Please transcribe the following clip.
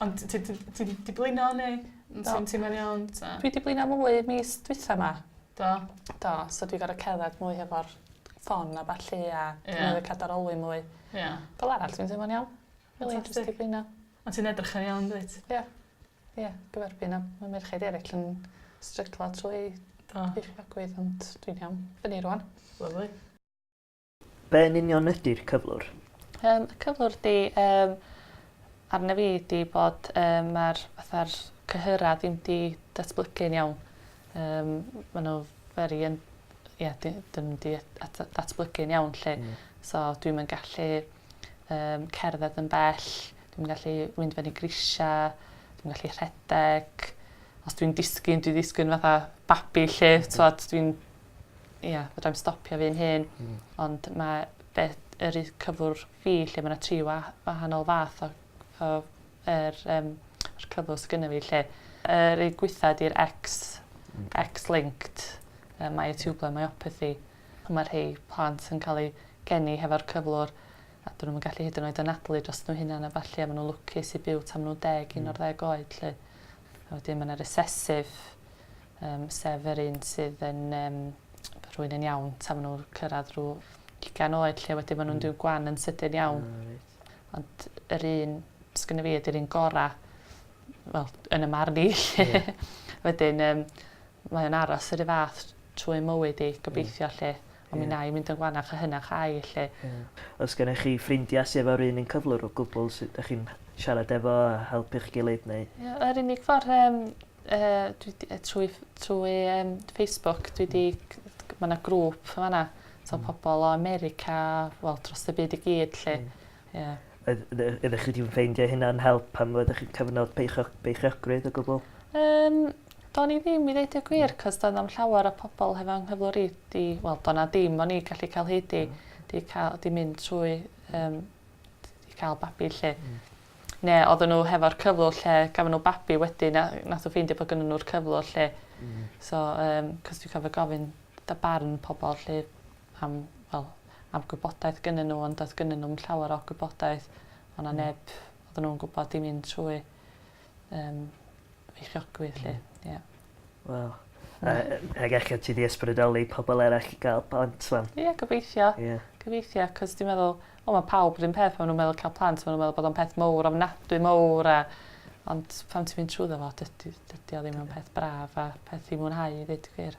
Ond t- t- t- ti 'di blino ne' n- ti'n teimlo'n iawn 'ta? Dwi 'di blino mwy mis dwitha 'ma. Do? Do so dwi gor'o' cerddad mwy hefo'r ffon a ballu a... Ie. ...dwi newydd ca'l darolyn mwy. Ie. Fel arall dwi'n teimlo'n iawn. Rili jyst 'di blino. On' ti'n edrych yn iawn dwyt? Ie. Ie dwi ar fin a ma' merchaid eryll yn stryglo trwy... Do. ...diffyg agwedd ond dwi'n iawn. Fyny rŵan. Lyfli. Be yn union ydi'r cyflwr? Yym y cyflwr ydi yym arno fi ydi bod yym ma'r fatha'r cyhyra ddim 'di datblygu'n iawn. Yym ma' n'w very un- ie di- dim yn di- at- datblygu'n iawn 'lly. Hmm. So dwi'm yn gallu yym cerdded yn bell dwi'm yn gallu mynd fyny grisia dwi'm gallu rhedeg os dwi'n disgyn dwi ddisgyn fatha babi 'lly t'wod dwi'n ia, fedrai'm stopio fi'n hun. Hmm. Ond mae be' yr u- cyflwr fi lle ma' 'na tri wa- wahanol fath o o yr yym yr cyflwr sy gynno fi lle. Yr un gwitha 'di'r X X-linked yy myotubular myopathy. A ma' rhei plant yn ca'l eu geni hefo'r cyflwr a 'dyn nw'm yn gallu hyd yn oed anadlu dros n'w hunan a ballu a ma' nw'n lwcus i byw tan ma' nw'n deg un o'r ddeg oed 'lly. A wedyn ma' 'na recessive Yym, sef yr un sydd yn yym rhwyn yn iawn tan ma' nhw'n cyrraedd rhyw ugain oed lle wedyn ma' nhw'n rhyw gwan yn sydyn iawn. Ah reit. Ond yr un sgynno fi ydi'r un gora', wel, yn 'y marn i 'lly. Ie. Wedyn yym mae o'n aros yr un fath trwy 'i mywyd 'i gobeithio 'lly. Ond mi wna i fynd yn gwanach a hynach âi, 'lly. Oes gennych chi ffrindiau sy efo'r un un cyflwr o gwbl sut dych chi'n siarad efo a helpu'ch gilydd neu...? Ie yr unig ffor yym yy dwi 'di yy trwy ff- trwy yym Facebook dwi 'di c- c- ma' 'na grŵp yn fan 'na t'o' pobol o America wel drost y byd i gyd 'lly. Ie. Oedd ydych ydych ydych chi 'di ffeindio hynna'n help pan oeddech chi'n cyfnod beichioch- beichiogrwydd o gwbwl? Yym do'n i ddim i ddeud y gwir 'c'os doedd na'm llawer o pobol hefo 'ngheflwr i 'di wel do' 'na dim o'n i gallu ca'l hyd i 'di ca'l 'di mynd trwy yym d- i ca'l babi 'lly. Ne' odden n'w hefo'r cyflwr lle gafon n'w babi wedyn a nath o ffeindio bo' gynnyn nw'r cyflwr 'lly. Hmm. So yym 'c'os dwi cofio gofyn fatha barn pobol 'lly am, wel, am gwybodaeth gynnyn nhw, ond doedd gynnyn nhw'm llawer o gwybodaeth. O' 'na neb odden nhw'n gwbod i fynd trwy yym feichiogrwydd 'lly. Ie. Waw. A yy ag eto ti 'di ysbrydoli pobol eraill i ga'l plant 'wan. Ie gobeithio. Ie. Gobeithio 'c'os dwi meddwl wel ma' pawb 'run peth pan ma' nw'n meddwl ca'l plant ma' nw'n meddwl bod o'n peth mowr ofnadwy mowr a ond pan ti'n mynd trwyddo fo dydi dydi o ddim yn peth braf a peth i mwynhau i ddeud y gwir.